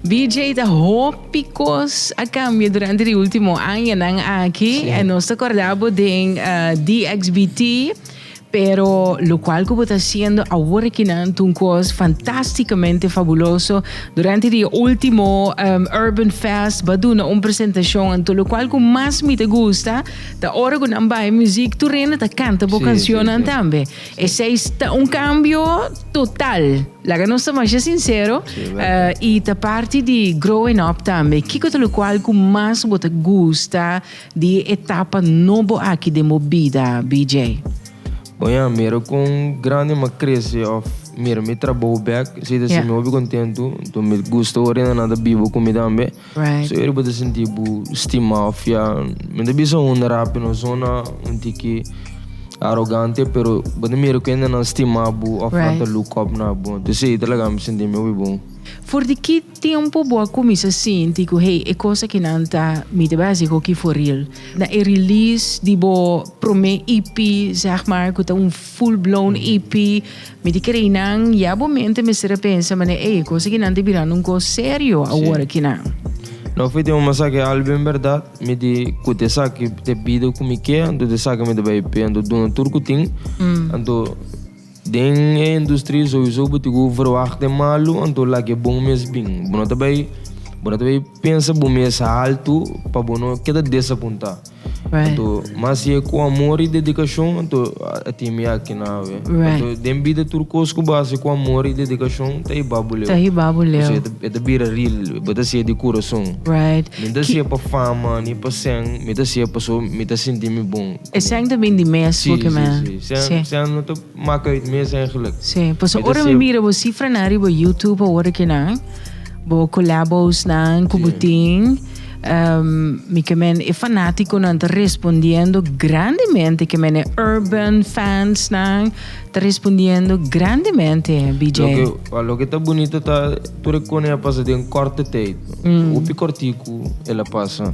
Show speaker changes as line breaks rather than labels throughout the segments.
BJ ta hopi kos a kambia durante di ultimo añanan aki. Sí. En nos ta kordá bo den eh, DXBT, pero lo cual ku bo ta haciendo awor akinan ta un kos fantásticamente fabuloso. Durante di e ultimo em, Urban Fest bo a duna un presentacion anto lo cual ku mas mi ta gusta ta ora ku nan bai muziek tur hende ta kanta bo Sí, sí, cancionnan sí. tambe. Esei ta un kambio total. Laga nos ta masha sinsero i ta parti di growing up tambe. Kiko ta lokual ku mas bo ta gusta di e etapa nobo aki den bo bida, BJ? Bon ya,
mira kon grandi mi a krese òf mira mi trabou bèk. Esei ta hasi mi hopi kontentu. Mi gusta ora e nannan ta biba ku mi tambe. Right. Eri bo ta
sinti bo
stima of ya men ta bisa un rapi no zona un tiki arogante pero bo ta mira ku hende nan stima bo of nan ta Right. look up na bo. Entonces ey ta laga mi sinti mi hopi bon. For di ki
tempo bo a kuminsa sinti ku hey e kosa ki nan ta mi ta basi hoki for real? Na e release di bo prome EP zeg maar ku ta un full blown EP Mi di kere nan, ya bo mente mester a pensa manera ey, cosa aki nan ta birando un cos serio awor aki nan. No fui tin un
masa ke al bin berdad, mi di kut esaki te bida ku mi ke, anto te saki mi ta bai pe, anto duna tur ku tin, anto den e industria souiso bo tin ku verwacht den malu, anto lak e bon mes bin, bo no ta bai, bo no ta bai pensa bo mes haltu pa bo no keda desapunta. Right. Anto mas si e ku amor i dedikashon anto a tin mi aki na hawe. Right. Anto den bida tur kos ku bo hasi ku amor i dedikashon ta hiba bo leu. Ta hiba bo leu. Pasobra e ta, e ta bira ril, bo ta hasi'e di kurason. Right. Mi no ta hasi'e pa fama ni pa sèn, mi ta hasi'e pasobra mi ta sinti mi bon. E sèn ta bini di
mes, si, boke si, men. si, si. Sèn, sèn no ta.
Mak uit mes eigenlijk. Sí, paso ora mi
mira bo cifra nan riba YouTube awor aki nan, bo collabos nan cu bo tin, um, mi ke men e fanatico nan ta respondiendo grandemente, ke men e urban fans nan ta respondiendo grandemente, BJ. Lo ke, wa, lo ke ta
bunito ta tur e kone a pasa den korte tijd, hopi kortiku el a pasa.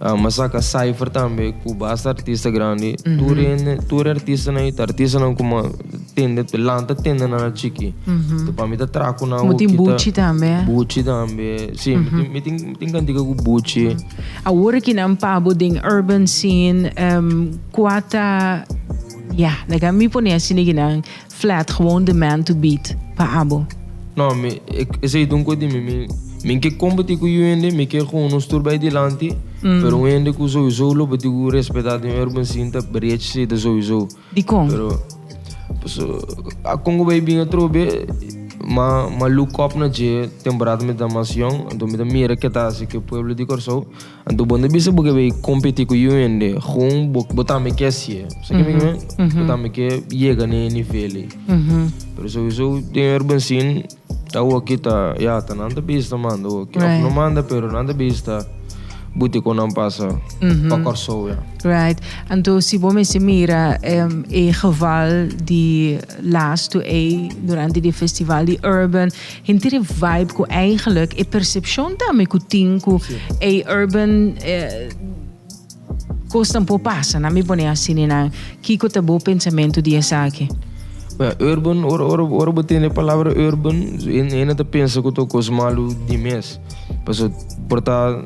Amba saka Cypher tambe ku basta artista grandi. Tur hende, tur artistanan i ta artistanan ku ma tende, lanta tendenan na chiki. So pa mi ta traha ku nan Bo tin hopi ta Buchi tambe.
Buchi tambe.
Si, mi tin, mi tin, mi tin kantica cu Buchi. Awor ki nan
pabo den urban scene, em, kua ta, ya, laga mi pone asina ki nan Flat gewoon the man to beat pa abo. No mi
esei ta un kos di mi mi mi ke kompeti ku yu hende mi ke gewoon no sturba ei dilanti pero un hende ku souiso lo bati ku respeta den urban scene ta brech si ta souiso Dikon? pero paso a konko bai bin atrobe ma ma look up na dje temporada mi ta mas yong anto mi ta mira keta si ke pueblo di Kòrsou. Anto bon ta bisa bo ke bai kompeti ku yu hende kon bo tambe ke hasié. Sa ki'e mi ke wak? Bo tambe ke yega na e nivel ei. Pero souiso den Urban Scene ta hoki ta ya ta nan ta bisa ta manda hoki. Of no manda pero nan ta bisa ta buti kon nan pasa pa Kòrsou ya. Right.
Anto si bo mester mira e geval di lastu ei durante di festival di Urban. Henter e vibe cu eigenlijk e percepcion tambe cu tin cu e urban cosnan por pasa, nan mi pone así ninan, kico ta bo pensamiento di esaki? Bueno, urban,
ora, ora, ora bo tende e palabra urban, hende ta pensa cu ta un cos malu di mes. Pasobra por ta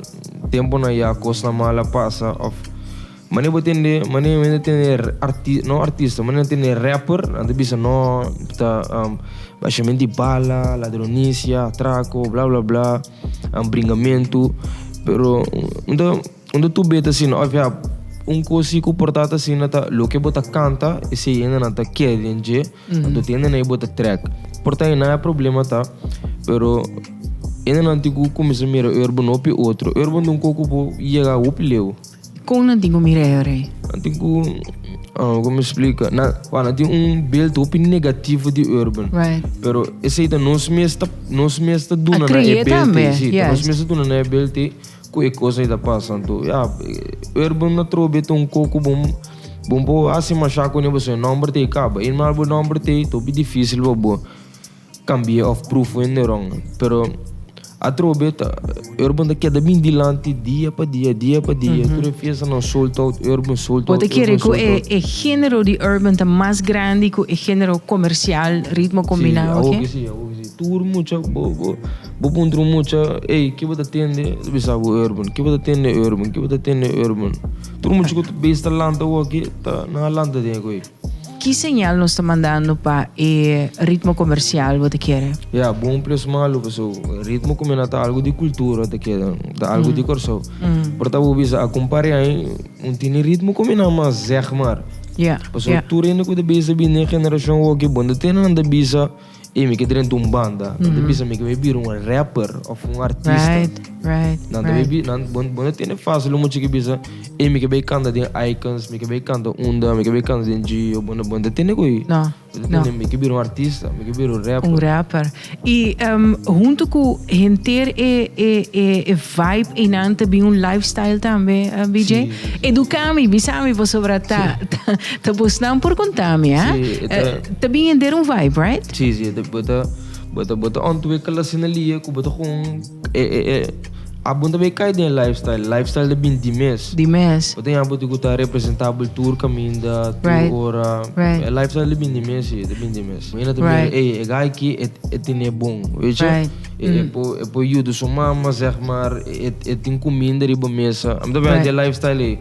temponan ya cosnan mal a pasa of. Mane bo tende, mane men ta tende arti, no artista, mane nan tende rapper, nan ta bisa no ta um, bashamenti di bala, ladronisia, atraco, bla bla bla, um, bringamentu. Pero un ta, un ta tube ta asina, of ya un cosi cu por ta ta asina ta loke bo ta canta, esey hende nan ta kere den dje, nan ta tende na e bo ta track. Por ta hina e problema ta, pero hende nan tin cu cuminsa mira urban hopi otro. Urban
ta un
coco cu bo yega hopi leu. Kon nan tin ku mira e
rei?
Nan tin ku, ku mi splika, nan wak nan tin un bilt hopi negativo di Urban. Right. Pero
esei ta
nos mes ta nos mes ta duna nan e bilt ei, si,
ta nos mes ta duna
nan e
bilt
ei ku e kos ei ta pasa. Anto ya Urban a trobe ta un koko bon bon pa bo hasi masha kuné pasobra e nòmber ta e kaba. I normal bo nòmber ta e ta hopi difísil pa bo. Cambi'e of prufu e neron. Pero atrobe ta urban ta keda bin dilanti dia pa dia, dia pa dia. Tur e fiestanan sold out, urban sold out, urban sold out. Bo ta kere cu e
e genero di urban ta mas grandi cu e genero comercial, ritmo combinao aki? Si, awoke si, awoke si. Tur
mucha, bo bo bo puntra un mucha, ey, ki bo ta tende? Ta bisa bo urban. Ki bo ta tende? Urban. Ki bo ta tende? Urban. Tur mucha cu ta bes ta lanta awoke ta nan a lanta den cu ey. Ki señal
nos ta mandando pa e ritmo comercial bo ta kere? Ya, bon plus malu
paso ritmo cu mina ta algo di cultura ta kere, ta algo di Corsou. Por ta bo bisa acun pare aña un tini ritmo cu mina mas zeg mar. Paso tur hende cu ta bisa bini e generacion hoki bo no ta tene nan ta bisa. Ey mi ke drenta un banda, nan ta bisa mi ke mi bira un rapper of un artista. Right, right, right. Nan ta
bay bi, nan,
bo, bo no tene fácil lo mucha ke bisa, ey mi ke bay kanta den Icons, mi ke bay kanta Unda, mi ke bay kanta den Gio, bo no, bo no tene koe. No, no. Mi
ke bira un
artista, mi ke bira un rapper. Un rapper.
I um, hunto ku henter e, e, e, e vibe einan ta bin un lifestyle tambe, uh, BJ? Si, si. Eduká mi, bisa mi pasobra ta, ta Te busnan por contami, ¿ah? Sí, eh, ta- Eh, te bien en der un vibe, right? Sí, sí, te bota,
bota, bota ontwikkelen sin een lier, ku bota gewoon, eh, eh, eh, abon te kai den lifestyle, lifestyle de bin di mes. Die mes. Bota ja bota ku ta representabel tour kaminda, tour Right. ora, Right. eh, lifestyle de bin di mes, sí, de bin di mes. Mira te Right. mira, eh, eh, gai ki, et, et tine bon, weet je? Right. Mm. Eh, eh, po, eh, po judo su mama, zeg maar, et, et tin comida riba mesa. Am te Right. de lifestyle, eh.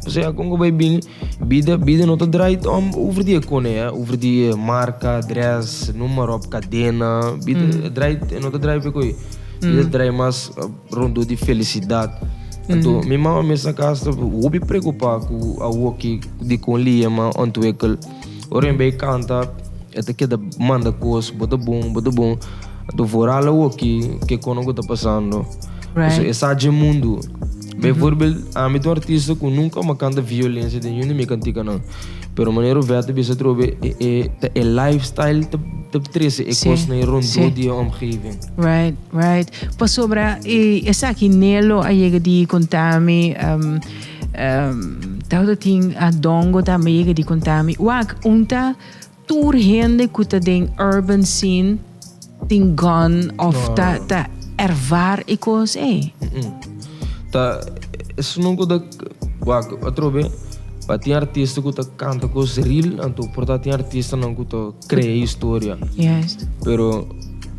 O sea, kon ko bij bin, Bida, bida no ta draait om over di e kone, eh, over di e marka, dress, noem maar op, kadena. Bida e draait, e no ta draai pe koe. Bida ta draai mas rondo di felisidat. Anto, mi mama mes na kas ta hopi preokupá ku awoki dikon Liema ontwikkel. Ora mi bai kanta, e ta keda manda kos, bo ta bon, bo ta bon. Anto, vooral awoki, ke kono ku ta pasando. Right. Pasobra e sa dje mundu. Bijvoorbeeld, ami ta un artista ku nunka mi a kanta violensia den yunda di mi kantikanan. Pero manera Ovèt ta bisa atrobe, e, e, ta e lifestyle ta, ta trese e Sí, kos na e rondó sí. di e omgeving. Right, right.
Pasobra e, esaki Nelo a yega di kontami, ehm, ehm, tawata tin Adongo tambe a yega di kontami, wak, un ta Tur hende cu ta den urban scene tin gun of ta ta ervar e cos ey? Umm. Ta
esnan nun cu ta wak atrobe pa tin artista cu ta canta cos real anto por ta tin artistanan cu ta crea historia. Juist. Pero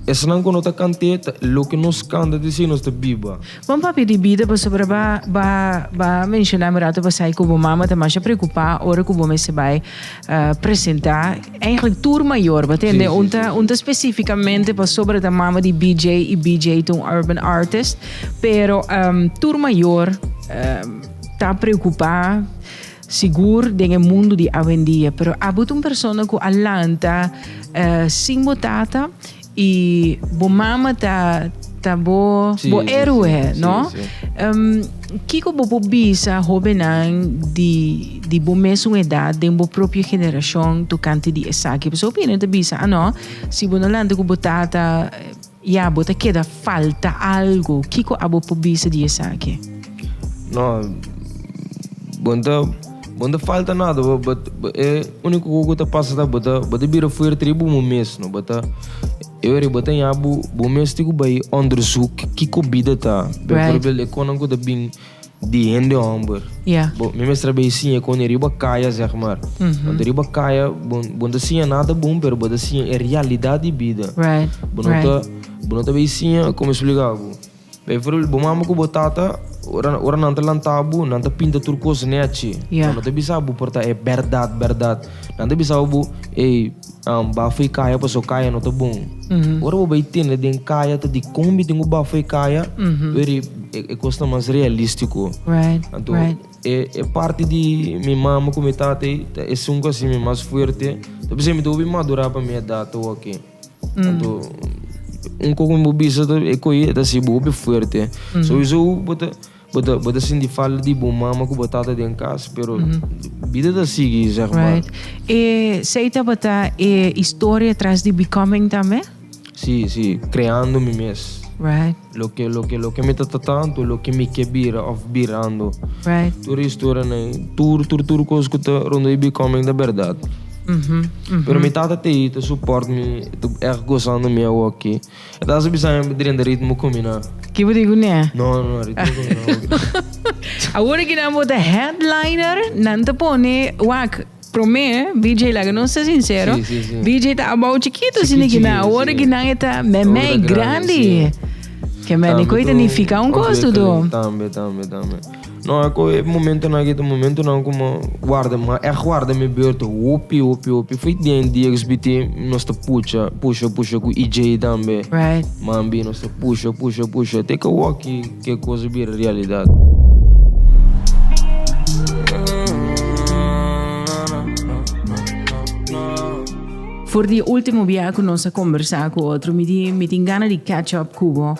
esnan cu no ta cante ta loke nos canta ta dici nos ta biba. Bon papi di bida
pasobra ba ba ba menshona mi rato pasai ku bo mama ta masha preokupa ora ku bo mester bai presenta eihglik tur mayor ba tende un ta un ta spesifikamente pasobra ta mama di BJ i BJ ta un urban artist pero tur mayor ta preokupa sigur den e mundu di awendia pero abo ta un persona ku a lanta sin bo tata. Y bo mama ta ta bo sí, bo héroe, sí, sí, no? Sí, sí. Um, Kiko bo por bisa jovennan di, di bo mesun edad den bo propio generacion tocante di esaki? Pasobra hopi hende ta bisa, ah no, si bo no lanta cu bo tata, ya, bo ta keda falta algo. Kiko abo por bisa di esaki? No,
bon ta Bo ta falta nada, bo bo e único cu ta pasa ta bo ta bo ta bira fuerte di bo mes, no bo ta e ora bo ta ña bo bo mes tin cu bay onderzoek kico bida ta, bijvoorbeeld e conan cu ta bin di hende homber bo mi mester a bay siña e conan riba caya zeg maar, want riba caya bo bo ta siña nada bun pero bo ta siña e realidad di bida bo no ta bo no ta bay siña como explica bo. Bo for di bo mama ku bo tata, ora ora nan ta lanta bo, nan ta pinta tur kos nechi. Ya. Nan no ta bisa bo por ta e bèrdat bèrdat. Nan ta bisa bo, ey, am, bafo e kaya paso kaya no ta bon. Ora bo bai tende den kaya ta dikon mi tin ku bafo e kaya, pero e e e kos ta mas realístiko. Right, Anto right. e e parti di mi mama ku mi tata ei ta esun ku a simi mas fuerte. Ta bisa mi ta hopi madurá pa mi edat awoke. Anto un koko mi bo bisa ta e koe e ta hasi bo hopi fuerte. Souizo hu bo ta bo ta bo ta sinti falta di bo mama ku bo tata den kas, pero bida ta sigui seg ma. Right. E
sei tabata e historia tras di Becoming tambe? Si, si,
Kreando mi mes. Right. Loke
loke loke
mi ta ta tantu loke mi ke bira of birando right tur
historianan ei
tur tur tur kos ku ta rondo ei becoming ta berdad mm -hmm. Mm -hmm. pero mi tata te ei ta support mi ta echt gozando mi awo aki e ta sa bisa mi drenta ritmo kumina kibo di gune
no no ritmo kumina
awor
aki nan bota headliner nan ta pone wak Promé, BJ laga nos ta sinsero, BJ ta
abao chikitu
si nikinan. Awor ki nan e ta meme i grandi. Ke mene koe ta nifiká un kos tu do. Tambe, tambe, tambe.
No, a koe e momentunan aki ta momentunan ku mi warda, mi a ègt warda mi beurtu hopi, hopi, hopi. Foi den DXBT nos ta pucha, pusha, pusha ku EJ tambe. Mambi
nos ta pusha,
pusha, pusha te ke wòkki. Ke kos bira realidat?
For di e ultimo bia ku nos a kombersá ku otro mi di mi tin gana di catch up ku bo.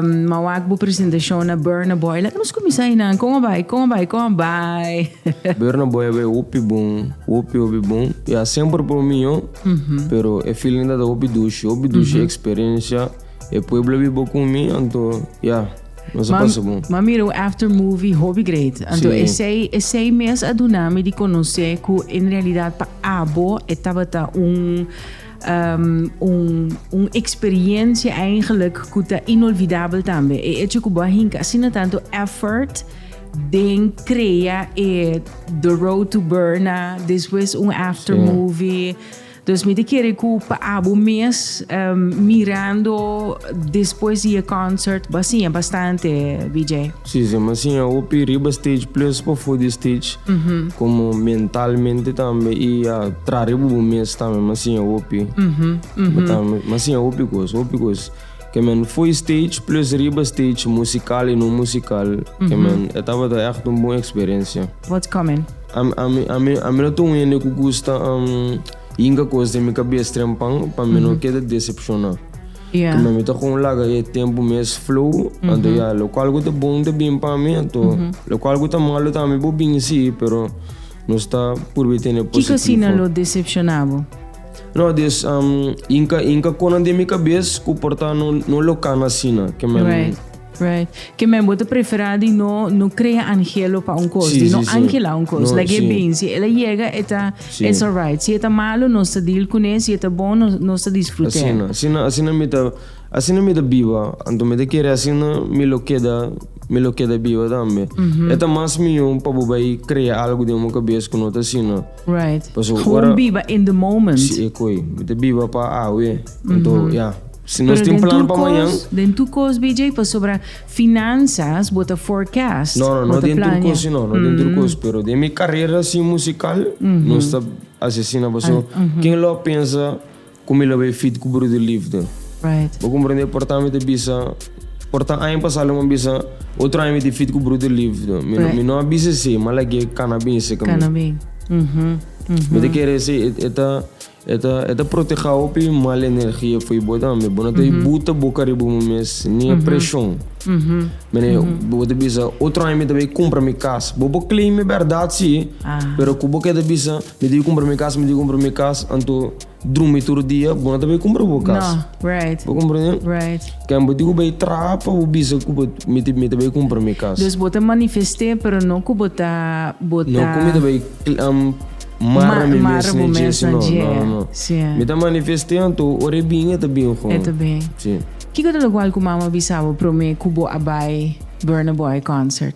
Ma wak bo presentashon na Burna Boy. Laga nos kuminsá einan. Kon a bai? Kon a bai? Kon a bai?
Burna Boy a bai hopi bon, hopi hopi bon. Ya semper por mi, pero e feeling dat a hopi dushi, hopi dushi eksperensia. E pueblo bi bo con mi, anto ya, nos a pasa bon. M'a mira un after
movie hopi great. Anto esey, esey mes a duna mi di conoce cu en realidad pa abo e tabata un, ehm, un, un experiencia eigenlijk cu ta inolvidabel tambe. E hecho cu bo a hinca asina tanto effort den crea e The Road to Berna, despues un after movie. Dus mi ta kere ku pa abo mes mirando despues di e konsèrt bo a siña bastante, Vijay? Si, si. Mi a siña
hopi riba stage ples pafó di stage, komo mentalmente tambe i a trare bo bo mes tambe. Mi a siña hopi. Mi a siña hopi kos, hopi kos. Ke men foi stage plus riba stage musikal i no musikal ke men e tabata echt un bon eksperensia. What's coming?
Ami ami ami
ami no ta un hende ku gusta hinka kos den mi kabes trempan pa mi no keda desepshoná. Ya. Kuma mi
ta kon laga
e tempu mes flow anto ya lokual ku ta bon ta bin pa mi anto lokual ku ta malu tambe por bin si pero nos ta purba tene positivo. Kiko asina lo desepshoná
bo? No dus
inka inka konan den mi kabes ku por ta no no lokan asina kemen. Right, right.
Kemen bo ta preferá di no no krea angelo pa un kos, sí, di no sí, angela sí. un kos. No, Lag'é sí. bin, si el a yega e ta sí. it's alright. Si e ta malu nos ta deal kuné, si e ta bon nos nos ta disfrut'é. Asina, asina asina mi ta
asina mi ta biba, anto mi ta kere asina mi lo keda mi lo keda biba tambe. E ta mas mihó pa bo bai krea algu den bo kabes ku no ta asina. Right. Paso Gewoon
ora- biba in the moment. Si e koe, mi ta
biba pa awe. Anto, ya. Si nos Pero tin den plan tur pa mañan. kos, den tur kos BJ,
pasobra finanzas bo ta forecast, No, no, bo no ta den tur plania.
kos, si no, no den tur kos. Pero den mi carrera sin musical, nos ta haci asina. Paso, ken lo a pensa Con mi lo bay fit cu brudo lifde. Bo comprende
porta
mi ta bisa, porta aña pasado lo mi a bisa otro aña mi tin fit cu brudo lifde. Mi no a bisa esey, ma lag'e cana bin esey ca mi. Mi ta kere esey, e ta, e ta, e ta proteha hopi mal energia fo'i bo ta. Mi bo no ta buta boca riba bo mes ni e presion. Mi bo ta bisa otro aña mi ta bay cumpra mi cas. Bo por claim e berdad si, pero cu bo keda bisa mi ta bay cumpra mi cas, mi ta bay cumpra mi cas, anto. drumi tur dia, bo no ta bay cumpra bo casa. No, right. Bo comprende?
Right.
Can bo digo
bay
traha pa bo bisa cu bo mi te mi te bay cumpra mi casa. Dus bo ta manifesté
pero no cu bo ta bo ta. No cu mi te bay
um, marra mi mes na dje si no, no, no. Sí. Mi ta manifesté anto ora e bin e ta bin gon. E ta bin.
Sí. Kico ta
locual cu
mama bisa bo prome cu bo a bay Burna Boy concert?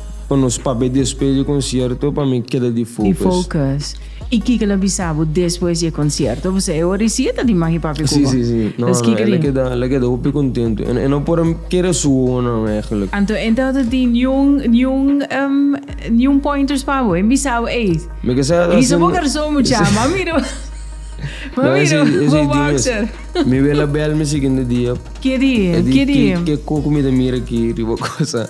Pa nos papia despues di e concierto pa mi keda di focus. Y
kiko la bisa bo despues di e concierto? Pasobra e ora si e ta di magi papi cu bo. Nos
kiko di. Si si. La keda hopi contento. E no por a kere su wowo nan eigenlijk. Anto e no ta tin
niun pointers pa bo? E bisa bo ey. Mi ke sa e ta haciendo. Hisa bo garson mucha. M'a mira bo. M'a mira bo. Bo boxer. Mi wela bel
mi siguiente dia. Ke di? Ke
di? Ke koko
mi ta mira aki riba cosa.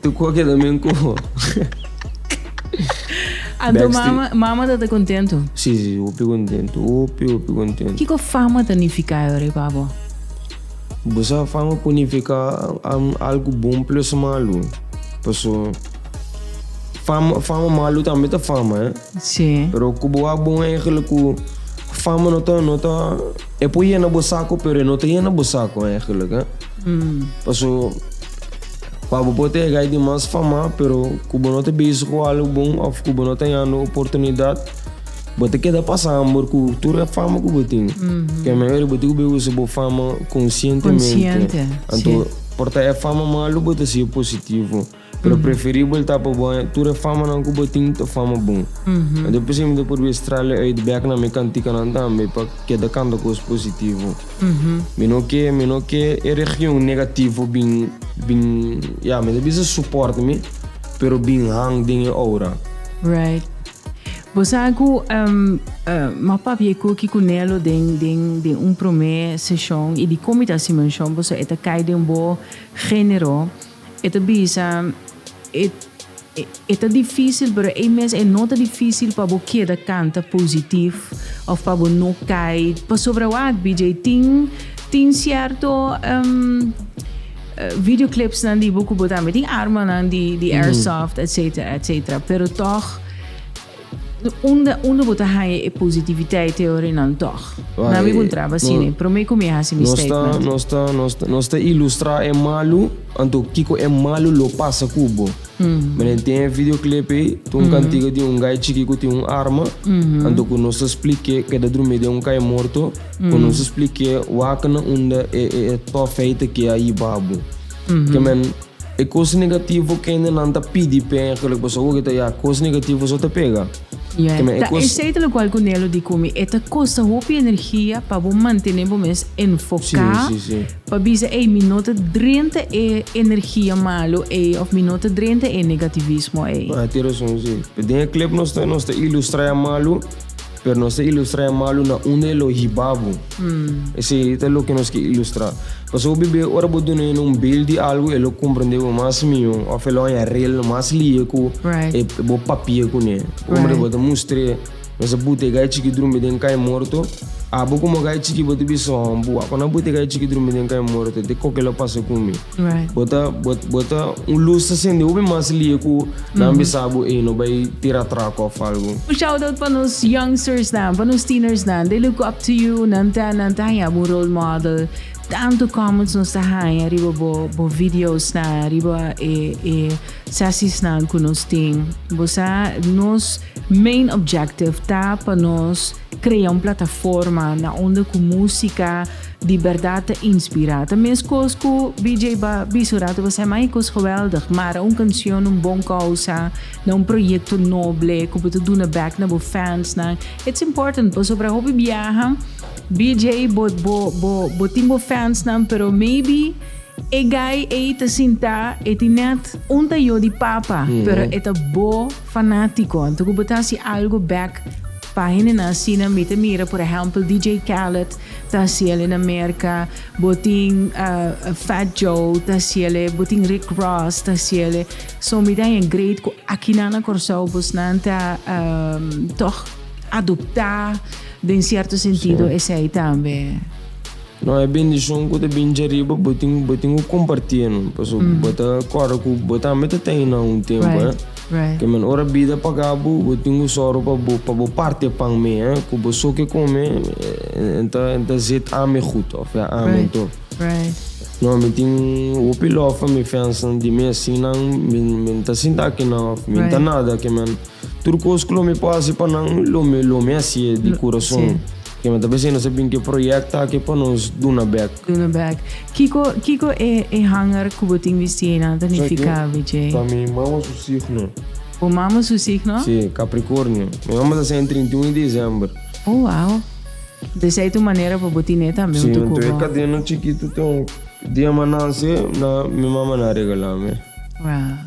Tu cu a keda mi un coho.
Anto mama, mama ta ta contento? Si, si, hopi
contento, hopi, hopi contento. Kico fama
ta nifica Eure pa bo?
Bo sa fama por nifica algo bon plus malo. Paso fama, fama malo tambe ta fama, eh. Si. Pero cu
bo a bon
eigenlijk cu fama no ta, no ta, e por yena bo saco pero e no ta yena bo saco eigenlijk, eh. Paso. Pa bo por ta yega ei di mas famá pero ku bo no ta bizi ku algu bon òf ku bo no ta hañando oportunidat, bo ta keda pasa hambur ku tur e fama ku bo tin. Ke mehor bo tin ku bo usa bo fama konsientemente. Anto por ta e fama malu bo ta siña positivo, pero preferibel ta pa bo haña tur e famanan ku bo tin ta fama bon. Anto e piseña mi ta probi strale uit bèk na mi kantikanan tambe pa keda kanta kos positivo. Mi no ke mi no ke e region negativo bin bin ya mi ta bisa soporta mi pero bin hang den e oura. Right.
Bo sa ku m'a papia ku ki ku Nelo den den den un promé seshon i dikon mi ta hasi menshon boso e ta kai den bo genero. E ta bisa, E, e, e ta difísil, pero ei mes e no ta difísil pa bo keda kanta positif òf pa bo no kai. Pasobra wak, BJ, tin, tin sierto, em, e videoclipsnan di bo ku bo tambe tin armanan di, di airsoft, etcetera, etcetera, pero tòg, Unda unda bo ta haña e positiviteit theory nan tog? Na mi bon traba así ne, prome cu mi a haci mi Nos ta, statement. nos ta, nos ta, nos ta
ilustra e malu, anto kico e malu lo pasa cu bo. Menen tin e videoclip ey, ta un cantiga di un guy chiki cu tin un arma, anto cu nos ta spliké, keda drumi den un cay morto, cu nos ta spliké wakennan unda e, e, e tougheid ta kee a yiba bo. Ke men. E cos negativo kende nan ta pidi pega cu lo paso awor ta ya cos negativo so ta pega yeah ta
esey ta locual cu Nelo di cu mi e ta costa hopi energia pa bo mantene bo mes enfoca pa bisa ey mi no ta drenta e energia malo ey of mi no ta drenta e negativismo ey. Tin razon
si den e clip nos ta ilustra ya malo. Pero nos ta ilustra e malu na unda e lo hiba bo. Esei ta loke nos ke ilustra. Pasobra bebé ora bo duna hende un beeld di algu e lo komprendé bo mas mihó òf e lo haña rel mas lihe ku e bo papia kuné. Komo ta bo ta mustr'é mester butega e chiki drumi den kai morto. Abo komo kai chiki bo ta bisa, Ho, bo wak onan butega e chiki drumi den kai morto, te kòke lo pasa ku mi? Bo ta bo ta un lus ta sende hopi mas lia ku nan bisa bo ey no bay tira atraco of algo. Un shout out pa nos
youngsters nan, pa nos teeners nan, they look up to you, nan ta nan ta haña bo un role model, tanto comments nos ta haña riba bo bo videos nan, riba e e sessies nan ku nos tin, bo sa nos main objective ta pa nos. Crea un plataforma na unda cu musica di berdad ta inspira. Ta mescos cu BJ ba bisa un rato ba Sam ay cos geweldig, mara un cancion, un bon causa, na un proyecto noble cu bo ta duna back na bo fansnan. It's important pasobra hopi biaha BJ bo bo bo bo tin bo fansnan pero maybe e guy ey ta sinta e tin net un tayo di papa pero e ta bo. Fanático, anto cu bo ta haci algo bek pa hendenan asina, mi ta mira por ehempel DJ Khaled ta haciele na Merca, bo tin Fat Joe ta haciele, bo tin Rick Ross ta haciele, so mi ta haña great cu akinan na Cor-sao bosnan ta tog adopta den cierto sentido esey tambe. No
e bendicion cu ta bini dje riba bo tin bo tin cu comparti eno paso bo ta corda cu bo tambe ta ta eynan un tempo eh Right, right. Ke men
ora
bida paga bo bo tin cu soro pa bo pa bo parti e pan mee eh cu bo so ke come en ta en ta zet ame
gud
of ya ame Right, anto. right. No mi tin hopi lof pa mi fansnan di mi asinan mi mi no ta sinta akinan of mi no ta Right. nada ke men tur cos cu lo mi por haci pa nan lo mi lo mi haci'e di curason. Sí. Ke men ta bisa i nos ta bin ku e proyekto aki pa nos duna bek. Duna bek. Kiko
kiko e e hanger ku bo tin bisti eynan ta nifiká, BJ? Pa mi mama su
signo. Bo mama su
signo? Sí, Capricornio.
Mi mama ta sèn trinta i un di disember. Oh, wow.
Entonces ey ta un manera pa bo tiné tambe un tukuba. Sí, enton e kadena
chikitu ta un dia m'an nase na mi mama na regalá mi. Wow.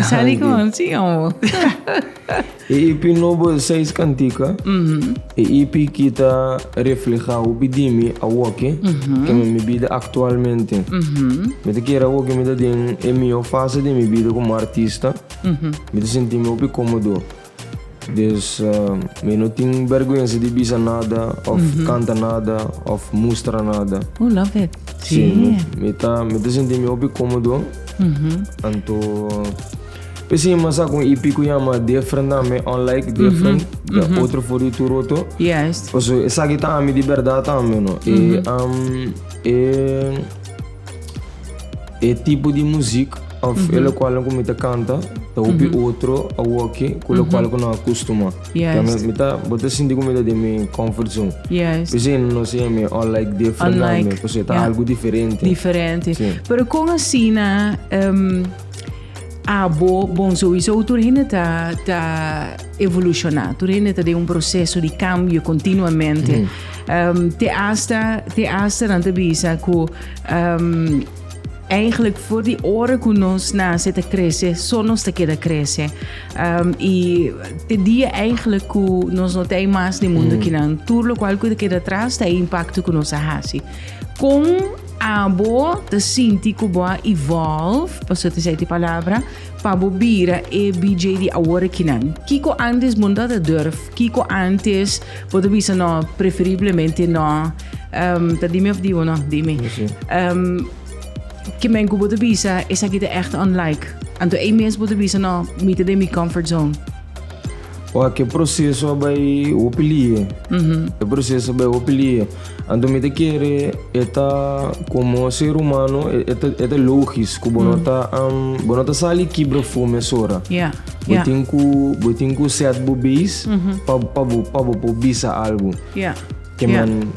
Sali ku un si o no.
E EP nobo Seis Cantica, e EP ki ta reflehá hopi di mi awoke, kende mi bida aktualmente. Mi ta kere awoke mi ta den e mihó fase di mi bida komo artista, mi ta sinti mi hopi kómodo. Dus mi no tin bèrgwensa di bisa nada òf kanta nada òf mustra nada. Oh, love it.
Sí, mi, mi
ta, mi ta sinti mi hopi kómodo. Anto, p'es ei mas sa ku un EP ku yama Different tambe, Unlike, Different, da otro for di tur otro. Juist. Paso
esaki ta ami
di bèrdat tambe, no? E, e. E tipo di muzik of e lokualnan ku mi ta kanta ta hopi otro awoki ku lokual ku no a kustumá. Kè mi, Yes. mi ta,
bo ta sinti
ku mi ta den mi comfort zone. Yes. P'esei e no
siña mi
unlike different nan Unlike, mi, pasobra ta yeah. algu diferente. Diferente. Sí.
Pero kon asina em, Abo, bon, souiso tur hende ta ta evolushona, tur hende ta den un proseso di kambio kontinuamente. Te asta, te asta nan ta bisa ku eigenlijk for di ora ku nos nase ta krese, so nos ta keda krese. I te dia eigenlijk ku nos no ta ei mas den mundu kinan, tur lokual ku ta keda atras ta e impakto ku nos a hasi. Kon Abo ta sinti ku bo a evolve, paso ta seti palabra, pa bo bira e BJ di awor aki nan. Kiko antes bo no tabata durf? Kiko antes bo ta bisa no, preferiblemente no? Um, ta dimi of dibo no? Dimi. Um, ke men ku bo ta bisa esaki ta ègt unlike. Anto ei mes bo ta bisa no, mi ta den mi comfort zone. Oa
ke proseso a bai hopi lie. E proseso a bai hopi lie. Anto mi ta kere e ta komo ser humano e, e ta, e ta logis ku bo no ta, am, bo no ta sali kibra fome esora. Ya, Bo ya, tin ku, bo tin ku set bo beis pa, pa bo, pa bo por bisa algu. ya. Kiè?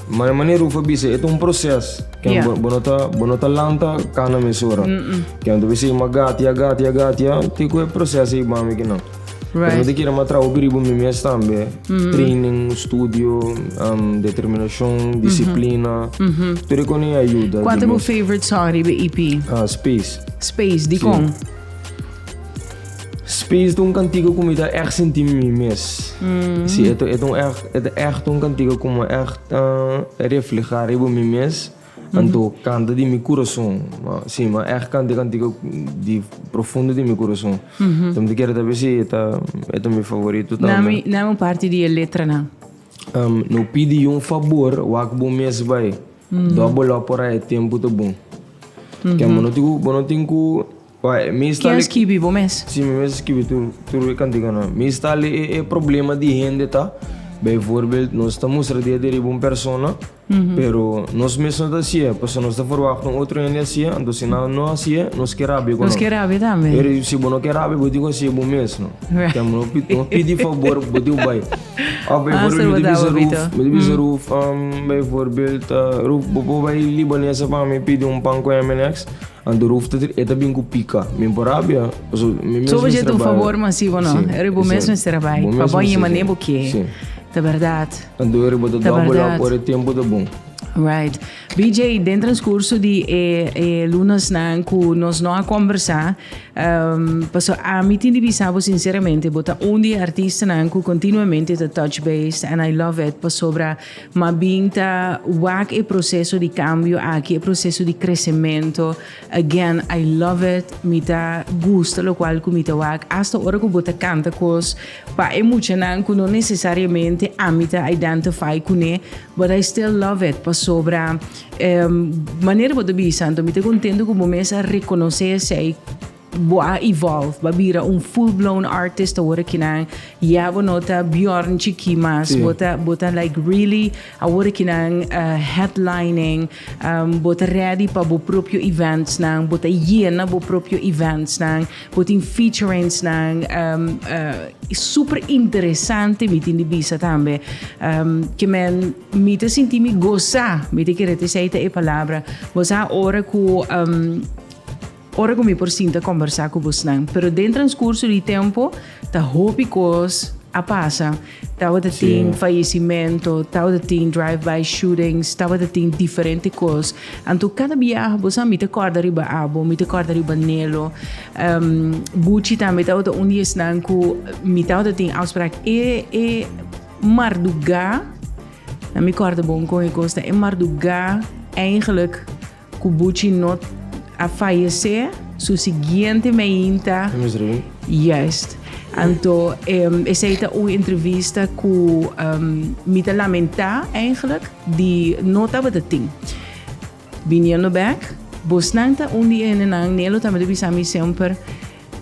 Mane mane Rufa bisa, e ta un proses. Kiè? Yeah. Bo no ta, bo no ta lanta kana mesora. Kiè? Tu bisa ima gatia, gatia, gatia, ti ku e proses ei bami ki no. Pero mi Right. ta kira ma traho pi riba mi mes tambe. Training, studio, um, determinacion, disciplina. Tur e koni a yuda. Kual ta di bo mes. favorite
song riba EP? Ah, space. Space, di Sí. kon?
Space ta un kantiga ku mi ta èg sinti mi mes. Sí, e ta e ta un èg e ta èg ta un kantiga ku mi èg ta reflehá riba mi mes, anto kanta di mi kurason. Ma, sí, mi a èg kanta e kantiga di profundo di mi kurason. So mi ta kere ta biasin e ta e ta mi favorito tambe. Nami, nami un parti di e
letranan. No
pidi yu un fabor, wak bo mes bai. Dòbel lo por ai e tempu ta bon. Ke bo no tin ku bo no tin ku. Ken a
skibi, bo mes? Si, mi mes a skibi
tur e kantiganan. Mi sta lee e problema di hende ta, bijvoorbeeld nos ta mustra dia di riba un persona, pero nos mes no ta hasi'e, pasobra nos ta verwachta un otro hende hasi'e, anto si nan no hasi'e, nos ke rabia ku nan. Nos ke rabia tambe.
Pero si bo no ke rabia, bo tin
ku hasi'e bo mes, no? Ken bo no pidi fabor, bo tin ku bai. Òf bijvoorbeeld mi ta bisa Ruth, mi ta bisa Ruth, bijvoorbeeld, Ruth, bo por bai libanesa pa mi pidi un pan ku Eminex? Anterhoofdtiter e ta bin ku pika. Mi por rabia. Paso mi mes mester a bai. Soba
dje ta un fabor mas si bo no. Si. Eri bo mes mester a bai. Bo mes mester a bai. Pa bo yema ne bo ke. Si. Ta berdad. Anto eri bo ta
double up ora e tempu ta bon. Right.
BJ, den transcurso di e e lunasnan ku nos no a kombersá, paso ami tin di bisa bo sinceramente bo ta un di e artistanan ku continuamente ta touch base and I love it pasobra Mas bien ta wak e proceso di cambio aki, e proceso di crecemento. Again, I love it. Mi ta gusta locual cu mi ta wak. Hasta ora cu bo ta canta cos pa e muchanan cu no necesariamente ami ta identify cu ne, but I still love it. Pasobra manera bo ta bisa, anto mi ta contento cu bo mes a reconoce esey. Bo a evolve, bo a bira un full blown artist awor aki nan ya bo no ta Bjorn chiki mas, bo ta bo ta like really awor aki nan headlining, bo ta ready pa bo propio events nan, bo ta yena bo propio events nan, bo tin featurings nan super interesante mi tin di bisa tambe ke men mi ta sinti mi gosa, mi ta kere ta esei ta e palabra, bo sa ora ku. Ora ku mi por sinta kombersá ku bosnan, pero den transkurso di tempo ta hopi kos a pasa. Tabata tin fayesimentu, tabata tin drive-by shootings, tabata tin diferente kos. Anto kada biaha bo sa mi ta kòrda riba abo, mi ta kòrda riba Nelo. Buchi tambe tabata un di esnan ku mi tabata tin ousprak e e mardugá, na mi kòrda bon kon e kos ta, e mardugá, eigenlik Ku Buchi no a fayesé, su siguiente meein ta. Di mes reu. Juist. Anto esei ta un entrevista ku mi ta lamentá eigentlik di no tabata tin. Biniendo bèk, bosnan ta un di endenan, Nelo tambe ta bisa mi semper,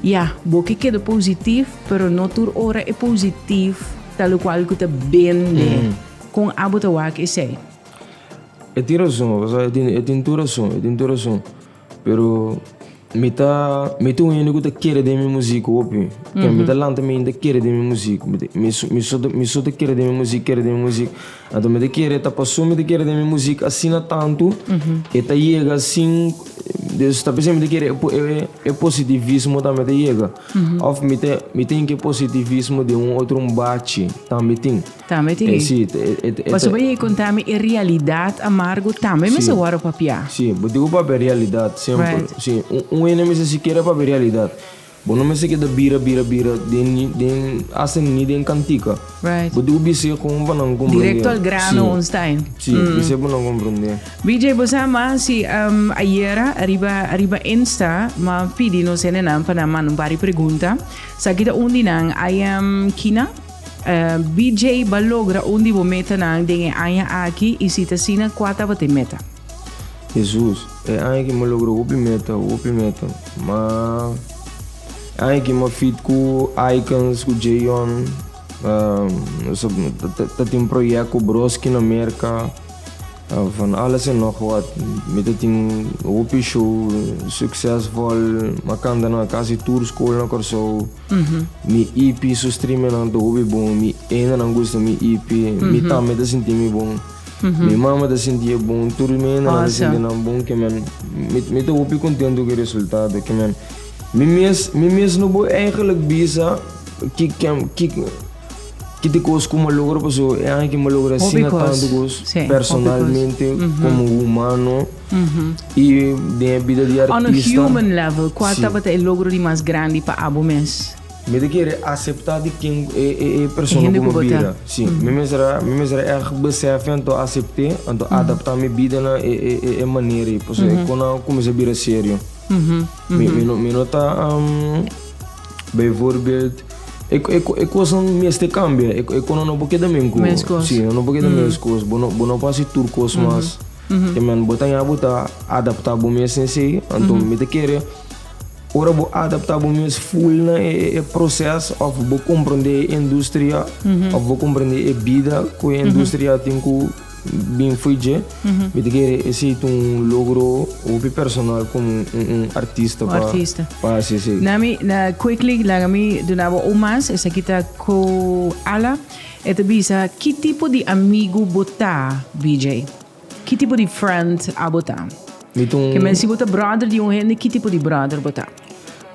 Ya, bo ke keda positif, pero no tur ora e positif talokual ku ta bende. Kon abo ta wak esei? E
tin rason, e tin tur rason, e tin tur rason. Pero mi ta, mi ta un hende ku ta kere den mi musik hopi. Ken mi ta lanta mi ta kere den mi musik. Mi ta, mi so, mi so, mi so ta kere den mi musik, kere den mi musik. Anto mi ta kere, ta paso mi ta kere den mi musik asina tantu e ta yega sin, dus ta p'esei mi ta kere e, e, e positivismo tambe ta yega. Òf mi ta, mi tin ke positivismo den un otro un bachi tambe tin. Tambe tin e. Sí,
e, e, e. Pasobra e konta mi e realidad amargo tambe mester wòrdu papiá. Sí, bo diku papia
realidad simpel. Right. Sí, un, un hende mester sikiera papia realidad. Bo no mester keda bira, bira, bira den, den, hasta ni den kantika. Right. Bo diku bis'é kon pa nan komprendé. Directo al grano Sí. un
style. Sí, bis'é pa nan
komprendé. BJ, bo sa mas
si um, ayera ariba ariba Insta ma pidi nos hendenan pa nan manda un par di pregunta. Sa ki ta un di nan, I am Kina. BJ ba logra un di bo metanan den e aña aki i si ta asina kua tabata e meta? Hesus,
E aña aki mi a logra hopi meta, hopi meta. Ma e aña aki mi a fit ku Aikens, ku Jayon, nos ta tin proyèkt ku Broski na Merka, van alles en nog wat. Mi ta tin hopi show suksesvol, mi a kanta na kasi tur skol na Kòrsou. Mi EP su streamenan ta hopi bon, mi endanan gusta mi EP, mi tambe ta sinti mi bon, mi mama ta sinti e bon, tur mi endanan ta sinti nan bon, ke men, mi, mi ta hopi kontentu ku e resultado, ke men, mi mes, mi mes no por eigenlijk bisa ki, ken, ki. Ki te kos ku m'a logra paso e aña aki m'a logra asina tantu kos personalmente komo humano i den e bida di artista. On a human level kual
tabata e logro di mas grandi pa abo mes? Mi ta kere
aseptá di ken e persona ku mi bira. Si, mi mes a mi mes a erg besèf'e anto asept'é, anto adaptá mi bida na e manera ei pasobra e kona kuminsá bira serio. Mi no ta. Bijvoorbeeld, e kosnan mester kambia. E konan no por keda minku. Meskos. Sí, no por keda meskos. Bo no, bo no por hasi tur kos mas. Te men bo ta ña bo ta adaptá bo mes n'esei. Anto mi ta kere, ora bo adaptá bo mes ful na e proces òf bo komprende e industria, òf bo komprende e bida ku e industria tin ku Bin fui dje, mi ta kere esei ta un logro hopi personal komo un artista. Un artista. Pa, si, si. Na mi, na quickly,
laga mi duna bo un mas, esaki ta ku Ala. E ta bisa, ki tipo di amigu bo ta, BJ? Ki tipo di friend abo ta? Mi ta un. Ke men si bo ta brother di un hende, ki tipo di brother bo ta?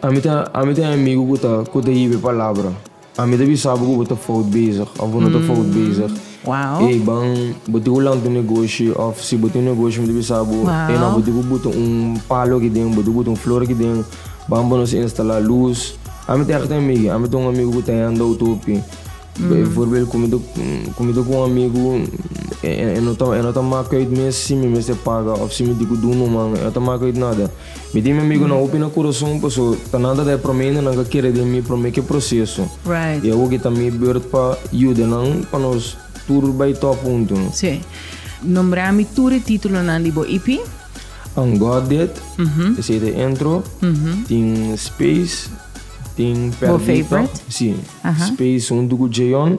Ami ta,
ami ta e amigu ku ta, ku ta hiba e palabra. Ami ta bisa bo ku bo ta fout bezig òf bo no ta fout bezig. Wow. E ban
bo tin
ku lanta un negoshi òf si bo tin un negoshi mi ta bisa bo e nò bo tin ku buta un palo aki den bo tin ku buta un flor aki den ban bo nos instalá lus. Ami ta yaka ta amigi ami ta un amigu ku ta yanda outopi e for bel ku mi ta ku mi ta ku un amigu e no ta e no ta maka uit mes si mi mes ta paga òf si mi tin ku dun no man e no ta maka uit nada. Mi tin mi amigonan hopi na kurason paso ta nan ta ta e prome inda nan ka kere den mi prome ke proseso y awor ke ta mi beurt pa yuda nan pa nos tur bai top huntu. Sí. Nombra
mi tur e titulonan di bo EP. Ungodded,
esei ta e intro, tin Space, tin Perdita,
sí,
Space
huntu ku
Jayon,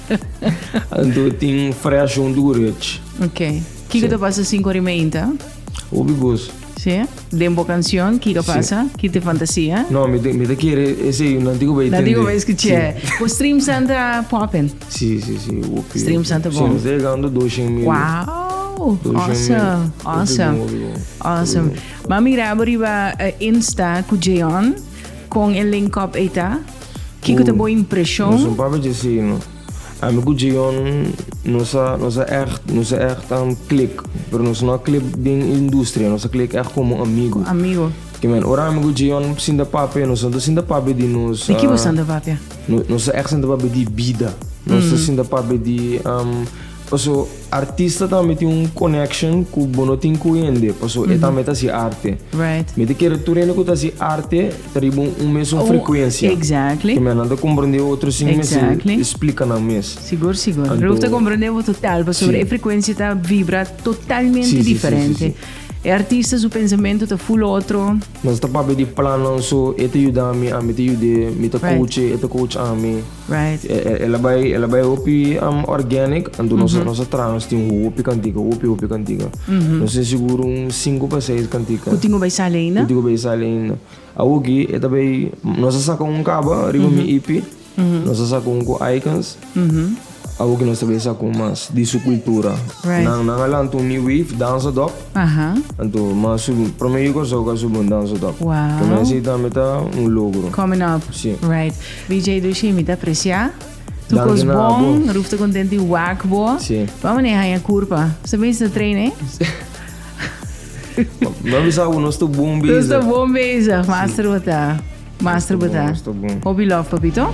Anto
tin fresh un durech. Ok. Kiko
ta pasa sin korimeinta? Obi goso.
Sí.
Den bo canción, kiko pasa? Sí. Kite fantasia? No, mi te, mi te kere
ese un antiko bay tende. Antiko bay escuché. Sí.
Bo stream santa poppen? Sí, sí, sí.
Opi, stream
santa bon. Sí, mi te llegando 200 mil. Wow. Oh,
awesome. Awesome.
Awesome. Mami Rabo riba eh, Insta ku Jeon kon el link up eta. Kiko ta bo impreshon? Nos un papia
dje
si no.
Ami ku Jeyon nos a nos a ègt nos a ègt a klik, pero nos no a klik den industria, nos a klik ègt komo amigu. Amigo. Ki mèn,
ora ami ku
Jeyon sinta papia, nos no ta sinta papia di nos. Di ki bo sinta
papia? Nos ta ègt sinta
papia di bida. Nos ta sinta papia di. Paso artista tambe tin un connection cu bo no tin cu hende, paso e tambe ta haci arte. Right. Mi ta kere
tur hende cu
ta haci arte ta riba un mesun Un- frecuencia. exactly. Te mira, nan ta
comprende
otro sin mester Exactly. explica
nan mes.
Sigur, sigur. Anto- Ruth
ta comprende
bo
total, pasobra Sí. e frecuencia ta
vibra
totalmente Sí, sí, sí, sí, diferente.
sí.
E artista
su
pensamiento ta full otro. Nos ta papia di
plannan so e ta yuda mi, ami ta yud'e, mi ta coach e, e ta coach ami. El
a bai, el a
bai hopi organic, anto nos nos a traha, nos tin hopi kantika, hopi hopi kantika. Nos tin sigur un sinku pa seis kantika. Ku tin ku bai sali ainda. Ku tin
ku bai sali ainda.
Awoki e ta bai, nos a saka un kaba riba mi ipi. Nos a sacun cu icons. Awo cu nos ta bay sacun mas di su cultura. Nan, nan a
lanta un new
wave danza dop. Anto,
ma su
prome yu Curaçao cu a subi un danza dop. Pa mi esey tambe
ta
un logro. Coming up.
Right.
BJ
Dushi, mi ta aprecia. Tur cos bon.
Ruf ta content
di
wak
bo. Bo a maneha aña
curpa.
Bo sa bisa ta traina ey?
Mi a bisa bo, nos ta bon bezig. Nos ta bon bezig.
Master
bo ta.
Master bo
ta.
Hopi love papito.